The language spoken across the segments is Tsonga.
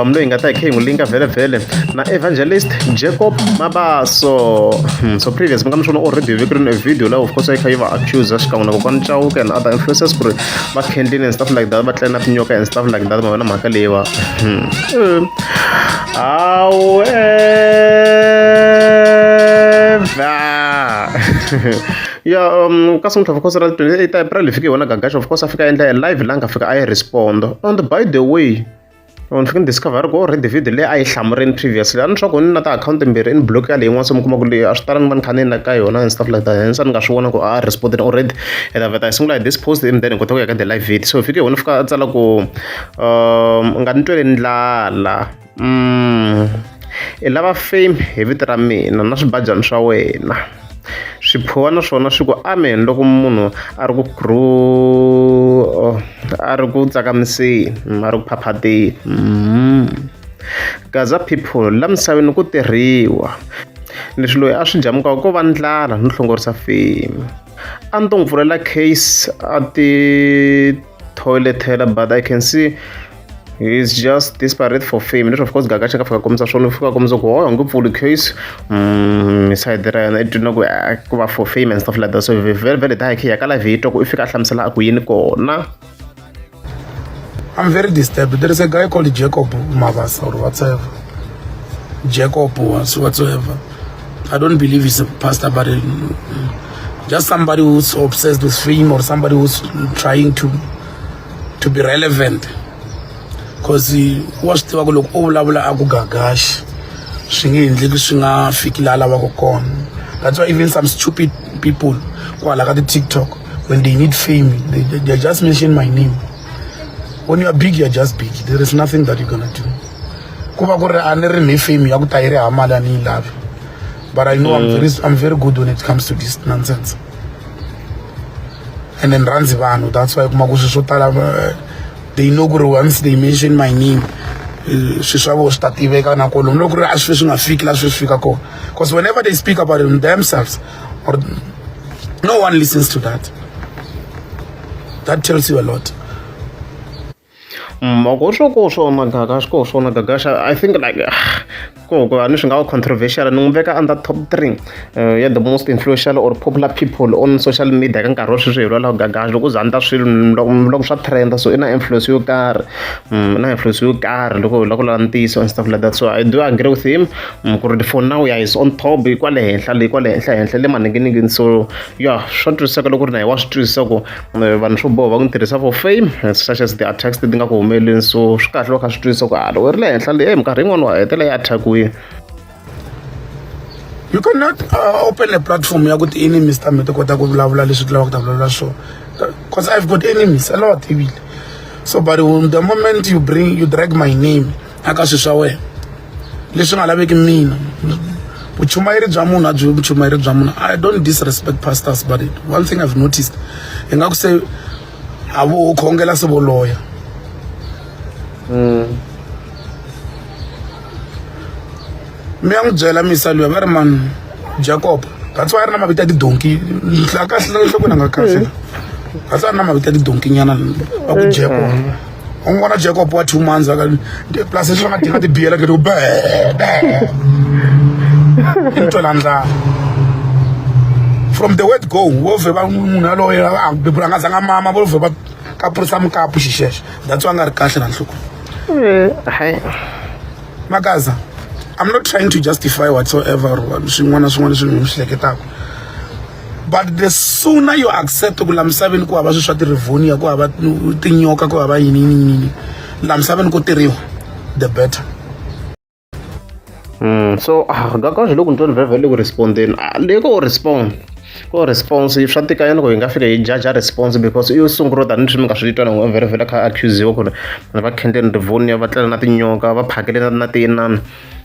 um loyi hi nga ta hi khe hi n'wi linga vhelemvhele na evangelist jacob mabaso hmm, so previous mi nga mi swona already viki rini video laha of course a yi kha yi va accuser xikan'we na kokwani chauke and other influences ku ri va kendlini and stuff like that va tlela na tinyoka and stuff like that ma vona mhaka leyi va hmm. hmm. awe ya um ka sungula of course ra 28 april hi fike hi wona gagaxa of course a fika a endla live la nga fika a yi respond and by the way ni tlhela ni discover ku already video leyi a yi hlamurini previously a ni swa ku ni na tiakhawunti mbirhi i ni block ya leyi yin'wana se mi kuma ku leyi a swi tala ni va ni kha ni na ka yona and stuff like that and se ni nga swi vona ku a a respondini already and aveta hi sungula hi this post and then hi kota ku ya ka the live video so hi fike hi wona fika a tsala ku um nga ni twele ndlala um i lava fame hi vito ra mina na swibajana swa wena swiphuwa na swona swi ku amen loko munhu a ri ku gru a ri ku tsakamiseni a ri ku phaphateni mm. gaza people la misaveni ku tirhiwa leswi loyi a swi jamukaka ko va ndlala no hlongorisa fame a ni to n'wi pfulela case a ti toilet hela but i can see he's just desperate for fame leswi of course gaga xa ka fika kombisa swona fika kombisa ku hoyo nge pfuli case mm, side ra yena i twina ku ah, ku va for fame and stuff like that so very very daya khiya ka live yi twa ku i fika a hlamusela a ku yini kona I'm very disturbed. There is a guy called Jacob Mavasa or whatever. Jacob whatsoever. I don't believe he's a pastor, but uh, just somebody who's obsessed with fame or somebody who's trying to to be relevant. Because wa swi tiva ku loko u vulavula a ku gagaxi swi nge endleki swi nga fiki laha lavaka kona that's why even some stupid people kwala ka ti-tiktok when they need fame they, they, they just mention my name when you are big you are just big there is nothing that you're gonna do ku va ku ri a ni ri ni fame ya ku ta yi ri hamala ni yi lavi but i know I'm, mm. very, i'm very good when it comes to this nonsense and then rhandzi vanhu that's why kuma ku swi swo tala eh, they know ku ri once they mention my name eh, swi swa vo swi ta tiveka na kolomu loko ri a swi swi nga fiki la swi swi fika kona because whenever they speak about them themselves or no one listens to that that tells you a lot Mm, ko swo ko swona gaga swi koho swona gaga xa i think like ko ko a ni swi nga va controversial ni n'wi veka under top three uh, ya the most influential or popular people on social media ka nkarhi wa sweswi hi lwalaho gaga loko za ni ta swilo loko swa trenda so i na influence yo karhi mm, na influence yo karhi loko hi lava ku lava ntiyiso and stuff like that so i do agree with him mm, ku ri for now ya is on top hi kwale henhla leyi kwale henhla henhla le maninginingini so ya swa twisiseka loko ri na hi wa swi twisisa ku eh, vanhu swo boha va ku tirhisa for fame such as the attacks ti nga ku humeleni so swi kahle va kha swi twisisa ku hala ah, werile henhla leyi eh, minkarhi yin'wana wa hetela yi attackiwile you cannot uh, open a platform ya ku ti-enemies ta mi ti kota ku vulavula leswi ti lavaka ku ta vulavula swo because i've got enemies a lot ibile so but the moment you bring you drag my name a ka swi swa wena leswi nga laveki mina vuchumayeri bya munhu a byi vuchumayeri bya munhu i don't disrespect pastors but one thing i've noticed hi nga ku se a vo khongela se voloya mm. mi ya n'wi byela misa luya va ri mani jacob that's why a ri na mavito ya tidonki kahle nhlokweni a nga kahle that's why a ri na mavito ya tidonki nyana va ku jacob mm. u n'wi vona jacob wa two months plus leswi va nga dinga tibiyela keti ku be be i ntwela ndlala from the word go wo vhe va munhu yaloye a bebula nga zanga mama vo vhe va kapurisa mukapu xixexo that's why a nga ri kahle na nhloko eh, makaza i'm not trying to justify whatsoever swin'wana na swin'wana leswi ni swi hleketaka but the sooner you accept ku la misaveni ku hava swilo swa ti-revonia ku hava tinyoka ku hava yini yini yini la misaveni ku tirhiwa the better Mm, so ah, ngakazhi loko ni twa ni vhevhe le ku respondeni ah, le ko respond ko response swa tika yini ku hi nga fika hi jaja response because i yo sungula tanihi swi mi nga swi twa nango vhele vhele kha accuse wa ku ri va khendleni rivonia va tlela na tinyoka va phakele na na tiyinana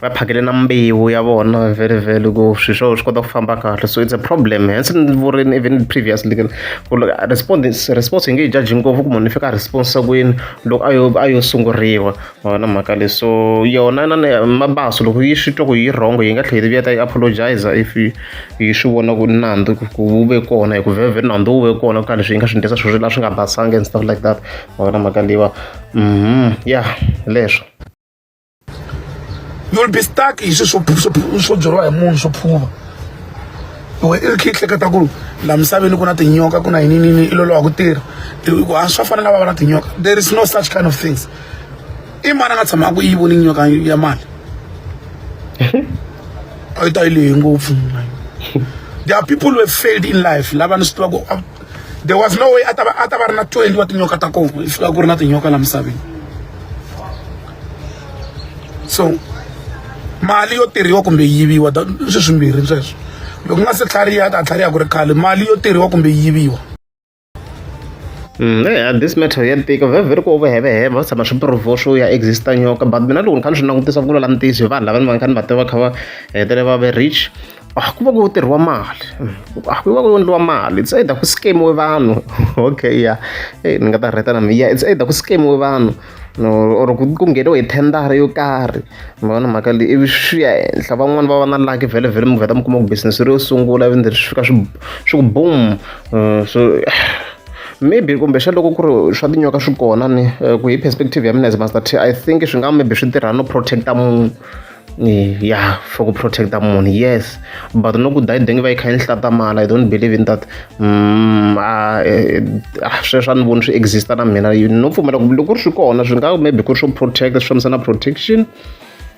Va phakele na mbewu ya vona vhele vhele ku swilo swa wena swi kota ku famba kahle so it's a problem hence ni vurini even previously ku ku ri respond response hi nge yi judge ngopfu ku munhu i fika a response kwini loko a yo a yo sunguriwa ma vona mhaka leyi so yona na mabaso loko yi swi twa ku yi wrong yi nga tlhela yi vuya ta yi apologize if yi swi vona ku nandzu ku wu ve kona hi ku vhele vhele nandzu wu ve kona ku ka leswi yi nga swi endlisa swilo la swi nga basanga and stuff like that ma vona mhaka leyiwa ya leswo. you'll be stuck hi swi swo byeriwa hi munhu swo phuva we i ri kha yi hleketa ku la misaveni ku na tinyoka ku na yininini i lolowa ku tirha ku a swa fanele va va na tinyoka there is no such kind of things i mani a nga tshama a ku yi voni nyoka ya mali a yi ta yi lehe ngopfu there are people who have failed in life lava ni swi tiva ku there was no way a ta va a ta va ri na 20 wa tinyoka ta kona yi fika ku ri na tinyoka la misaveni so mali yo tirhiwa kumbe yiviwa swi swimbirhi sweswo loko nga se tlhariha ta tlhariha ku ri khale mali yo tirhiwa kumbe yiviwa Mm, yeah, this matter ya tika very very ku overheveheva va tshama swi provo swo ya exista nyoka but mina loko ni kha ni swi langutisa ku lula ntiyiso hi vanhu lava ni va ni kha ni va tiva kha va hetele va ve rich a ah, ku va ku tirhiwa mali a ah, ku va ku endliwa mali it's either ku scamiwe vanhu okay ya hey, eh, ni nga ta rheta na miya it's either ku scamiwe vanhu no or ku ku ngheniwe hi thendara yo karhi mi vona mhaka leyi ivi swi ya henhla van'wani va va na laki vhele vhele mi vheta mi kuma ku business ri yo sungula ivi ndzi swi fika swi swi ku boom eh, so maybe kumbe xa loko ku ri swa tinyoka swi kona ni eh, ku hi perspective ya mina as master t i think swi nga maybe swi tirha no protecta munhu ya for ku protect munhu yes but no ku dayideng va yi kha yi ni hlatamala i don't believe in that mm, ah, eh, ah, sweswo a ni voni swi exista na mina no pfumela ku loko ri swi kona swi nga maybe ku ri swo protect swi fambisana protection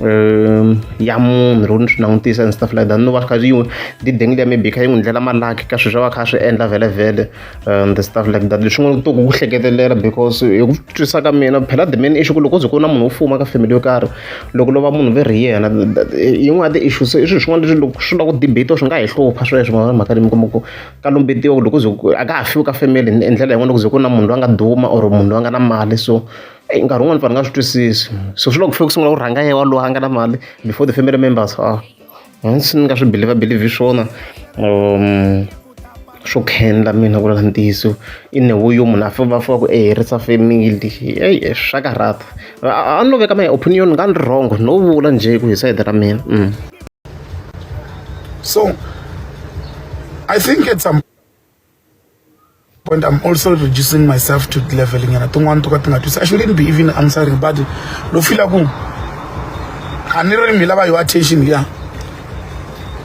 um ya munhu loko ni swi langutisa and stuff like that no va kha yi dideng liya maybe kha yi n'wi ndlela malaki ka sweswo va kha swi endla vhele vhele and the stuff like that leswi nga to ku hleketelela because hi ku twisisa ka mina phela the main issue ku loko ze ku na munhu wo fuma ka family yo karhi loko lova munhu ve ri yena yin'wana ti issues i swilo swin'wana leswi loko swi lava ku debate swi nga hi hlupha sweswo mhaka mhaka leyi mi kuma ku ka lombetiwa loko ze a ka ha fiwi ka family hi ndlela yin'wana loko ze ku na munhu loyi a nga duma or munhu loyi a nga na mali so eyi nkarhi wun'wani pfani nga swi twisisi so swi loko ku fike ku sungula ku rhanga yewa loyi a nga na mali before the family members a Hansi ni nga swi believer believer swona swo khendla mina ku lava ntiyiso i ne wo yo munhu a famba a famba ku i herisa family heyi swa karhata a a ni lo veka my opinion ni nga ni ri wrong no vula njhe ku hi sayiti ra mina so I think at some. point i'm also reducing myself to level nyana tin'wana to ka ti nga twisi i shouldn't be even answering but lo fila ku a ni ri mi lava yo attention ya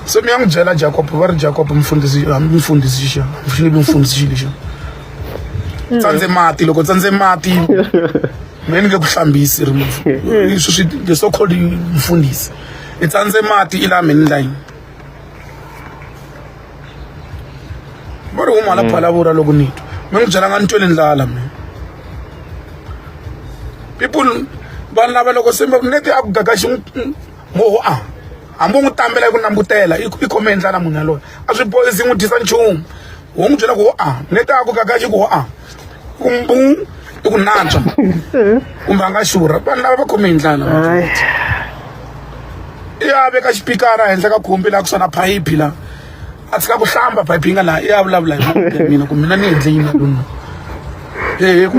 se mi ya n'wi byela jacob va ri jacob mfundhisi hambi mfundhisi xa mfilibi mfundhisi lexi tsandze mati loko tsandze mati mi ni nge ku hlambisi ri leswi swi the so called mfundhisi i tsandze mati i la mi ni layini va ri wun'wana phalavura loko ni twa mi n'wi byelanga ni twele ndlala mina people vanhu lava loko se neti a ku gaga xi moho a hambi u n'wi tambela yi ku nambutela i khome ndlala munhu yaloye a swi boyisi n'wi dyisa nchumu wo n'wi byela ku ho a neti a ku gaga xi ku ho a umbung i ku nantswa kumbe a nga xurha vanhu lava va khome hi ndlala i ya veka xipikara henhla ka khumbi laha ku sona phayiphi laha a tshika ku hlamba phayiphi yi nga laha i ya vulavula hi mina ku mina ni endle yini na lona hehe ku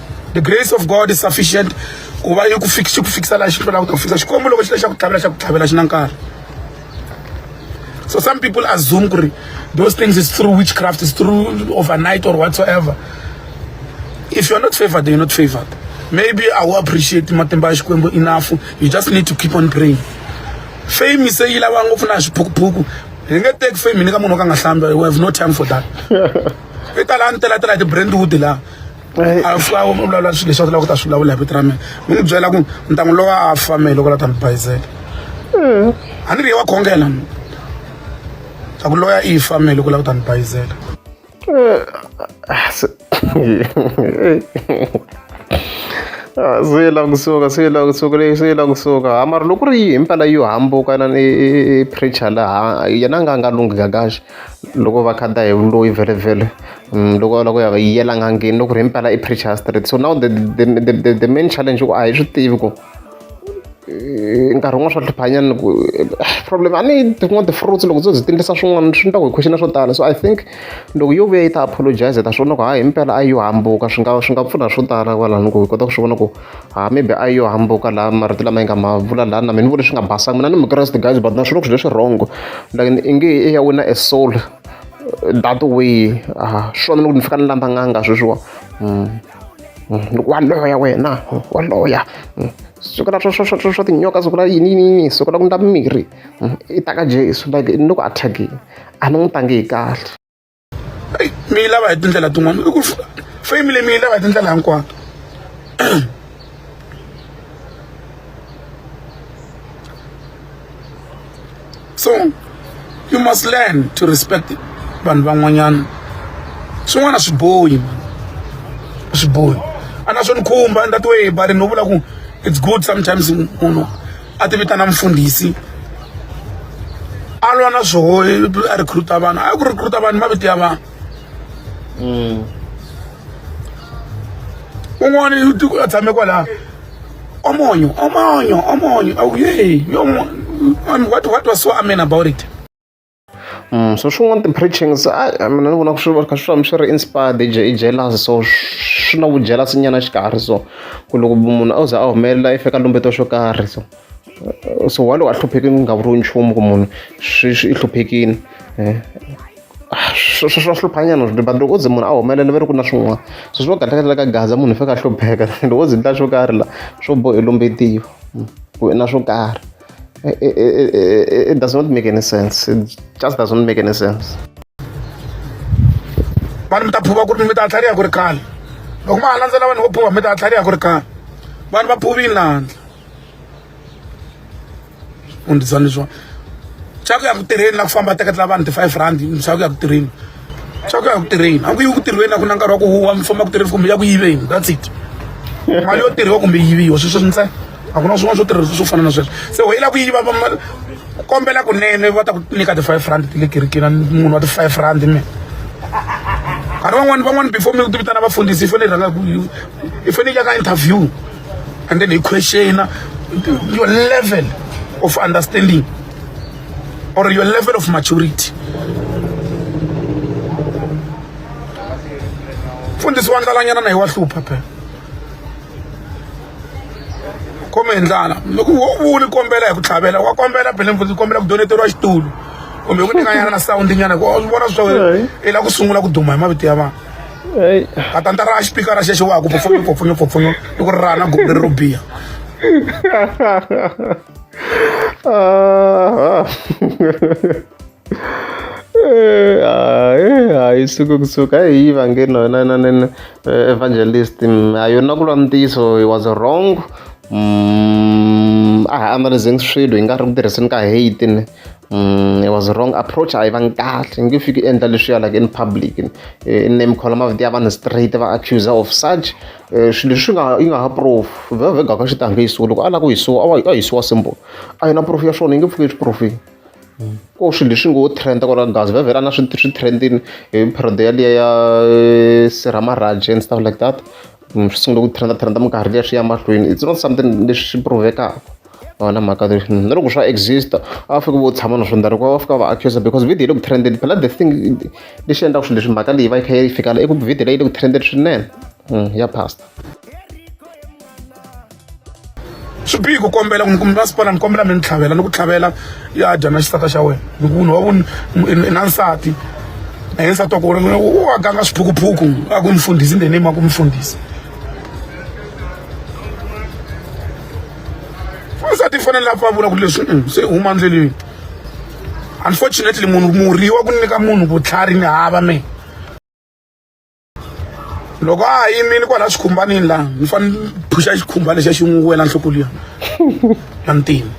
the grace of god is sufficient ku va yi ku fix xi ku fikisa laha xi hlwelaka ku ta ku fikisa xikwembu loko xi le xa ku tlhavela xa ku tlhavela xi na nkarhi so some people assume ku ri those things is through witchcraft is through overnight or whatsoever if you're not favored then you're not favored maybe i will appreciate matimba ya xikwembu enough you just need to keep on praying fame se yi lava ngopfu na swiphukuphuku hi nge teki fame ni ka munhu wo ka nga hlambi we have no time for that i tala ni telatela hi ti-brandwood laha a a vulavula swilo leswi a lava ku ta swi vulavula hi vito ra mina mi ni byela ku ni ta n'wi lowa a fame loko la ta ni bayizela a ni ri ye wa khongela mi ta ku loya i fame loko la ku ta ni bayizela swi la kusuka swi la kusuka leyi swi la kusuka hamari loko ri yi himpela yo hambuka na preacher laha yena a nga a nga lunghi kakaxe loko va khata hi vuloyi vhele-vhele loko a lava ku ya va yela n'angeni loko ku ri himpela i preacher straight so now the the the the the main challenge i ku a hi swi tivi ku nkarhi wun'wani swa hluphanyana ku problem a ni yi tin'wani ti-fruits loko dzo byi ti ndlisa swin'wana swi endla ku hi question swo tala so I think loko yo vuya yi ta apologiser hi ta swi vona ku hayi himpela a yo hambuka swi nga swi nga pfuna swo tala kwalano ku hi kota ku swi vona ku. ha maybe a yo hambuka laha marito lama yi nga ma vula laha na mina ni vula swi nga basanga mina ni mukreste guys but na swi loko swi leswi wrong like i nge i ya wina a soul that way ah swona loko ni fika ni lamba n'anga sweswiwa mm. mm. wa loya wena mm. wa loya siku la swa tinyoka siku la yini yini yini siku la ku ndla mirhi i ta ka jesu like ni loko a thyakile a ni n'wi tangi hi kahle eyi mi yi lava hi tindlela tin'wana i ku fame leyi mi yi lava hi tindlela hinkwato so you must learn to respect vanhu van'wanyana swin'wana swi bohi swi bohi a na swo ni khumba ni ta tiwe hi barini no vula ku it's good sometimes munhu a ti vitana mfundhisi a lwa na swoho a recruta vanhu a ku recruta vanhu mavito ya vanhu mm. un'wana a tshame kwalaha omonyo omonyo omonyo awu ye what, what was so amen about it so swin'wana ti-preachings a mina ni vona ku swi va kha swi famba swi ri inspired i i jealous so swi na vujealous nyana xikarhi so ku loko munhu a za a humelela i fika lumbeto swo karhi so so wa lowu a hluphekile ku nga vuriwi nchumu ku munhu swi swi i hluphekile eh, ah, swa hluphanyana but loko u ze munhu a humelela va ri ku na swin'wana so swi va kahlekahle ka gaza munhu i fika a hlupheka loko u ze ndla swo karhi la swo bohi lombetiwa hmm, ku na swo karhi It, it, it, it does not make any sense. It just does not make any sense. vanhu mi ta phuva ku ri mi ta tlhariha ku ri khale loko ma ha landzela vanhu vo phuva mi ta tlhariha ku ri khale vanhu va phuvile landla u ndzi tsandza leswiwa xa ku ya ku tirheni na ku famba teketela vanhu ti-five rand xa ku ya ku tirheni xa ku ya ku tirheni a ku yi ku tirhweni a ku na nkarhi wa ku huwa mi famba ku tirheni kumbe ya ku yiveni that's it mali yo tirhiwa kumbe yiviwa sweswo ntsena a ku na swin'wana swo tirhisa swo fana na sweswo se wena ku yiva kombela kunene va ta ku nyika ti-five rand ti le kerekeni munhu wa ti-five rand mina nkarhi van'wani van'wani before mi ti vitana vafundhisi i fanele i rhanga i fanele ya ka interview and then hi questiona your level of understanding or your level of maturity mfundhisi wa ndlalanyana na hi wa hlupha phela khome hi ndlala loko wo u ni kombela hi ku tlhavela wa kombela phela mfundhisi kombela ku doneteriwa xitulu kumbe ku nyikanyana na sawundi nyana ku vona swa wena i la ku sungula ku duma hi mavito ya vanhu katanta ra xipikara xexo wa ku pfupfunyo pfupfunyo pfupfunyo i ku ri rana gumbi leri ro biha hayi suka kusuka hayi yi vange nona na na evangelist a yona ku lwa ntiyiso he was wrong a hi analyzing swilo hi nga ri ku tirhiseni ka hate ne it was wrong approach a yi vangi kahle nge fiki endla leswiya like in public name khola mavito ya vanhu straight va accuser of such swilo leswi nga yi nga ha proof vhevhega ka xitange yi suwa loko a lava ku hisiwa a a hisiwa symbol a yi na proof ya swona yi nge pfuki swi profile ko swilo leswi ngo trend kwala gazi vhevhela na swi swi trendini hi period yaliya ya sirha marhaje and stuff like that Ni swi sungule ku trend trend minkarhi liya swi ya mahlweni it's not something leswi swi prove-ekaka a va na mhaka leyi na loko swa exist a va fiki vo tshama na swona loko va fika va accuse because video le ku trendeni phela the thing lexi endlaka swilo leswi mhaka leyi va yi kha yi fika la i ku video leyi le ku trendeni swinene ya pastor swi bihi ku kombela ku mi masipala ni kombela mi ni tlhavela ni ku tlhavela ya dya na xisata xa wena hi ku munhu wa ku na nsati na yena nsati wa ku u wa ganga swiphukuphuku a ku mfundhisi ndeni ma ku mfundhisi wansati i fanele a pavula ku leswi mm, se huma ndleleni unfortunately munhu murhi wa ku nyika munhu vutlhari ni hava me loko a ha yimile kwala xikhumbanini laha ni fanele ni phuxa xikhumba lexa xi n'wi wela nhloko liya na ntima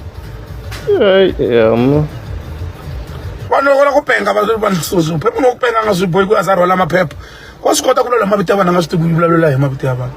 vanhu loko la ku penga vanphepha no ku penga nga swi bohi ku a za rhwala maphepha wa swi kota ku lwela mavito ya vanhu a nga swi tivi ku vulavula hi mavito ya vanhu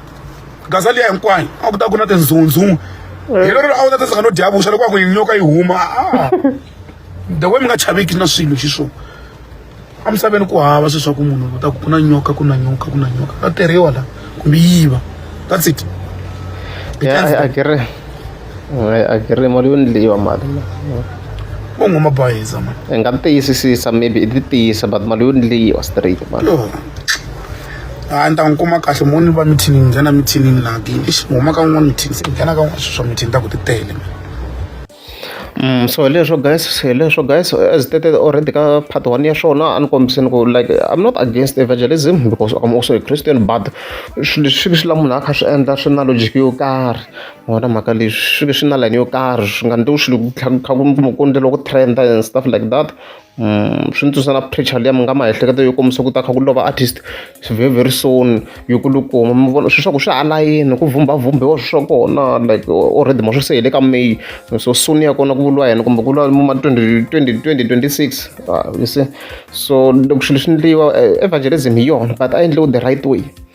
gaza liya hinkwayo a ku ta ku na tinzunzungu eh. hi lero a wu ta tsandzeka no dya vuxa loko a ku yinyoka yi huma ah. the way mi nga chaveki na swilo xiswona emisaveni ku hava swi swa ku munhu u ta ku ku na nyoka ku na nyoka ku na nyoka ta tirhiwa la kumbe yiva that's it yeah, I, I get it. agree mali yo ndliwa mali vo nghoma bayiza mani hi nga tiyisisisa maybe i ti tiyisa but mali yo ndliwa straight mani a ni ta n'wi kuma kahle mo ni va mithini ni nghena mithinini laha ke ixi huma ka n'wana mithini se nghena ka n'wana swa mithini ta ku ti tele Mm, so leswo guys leswo guys as stated already ka part one ya swona a ni kombiseni ku like i'm not against evangelism because i'm also a christian but swilo leswi swi la munhu a kha swi endla swi na logic yo karhi wona mhaka leyi swi ve swi na layeni yo karhi swi nga endliwi swilo ku tlhela ku kha ku mi ku endleriwa ku trend-a and stuff like that swi ni tsundzuxa na pressure liya mi nga miehleketo yo kombisa ku ta kha ku lova artist swi very very soon yo kulukuma mi vona swilo swa ku swi ha layeni ku vhumbhavhumbhiwa swilo swa kona like already ma swi se hi le ka may so soon ya kona ku vuriwa yena kumbe ku vuriwa ma twenty twenty twenty twenty six you see so loko swilo swi endliwa evangelism hi yona but a yi endliwi the right way.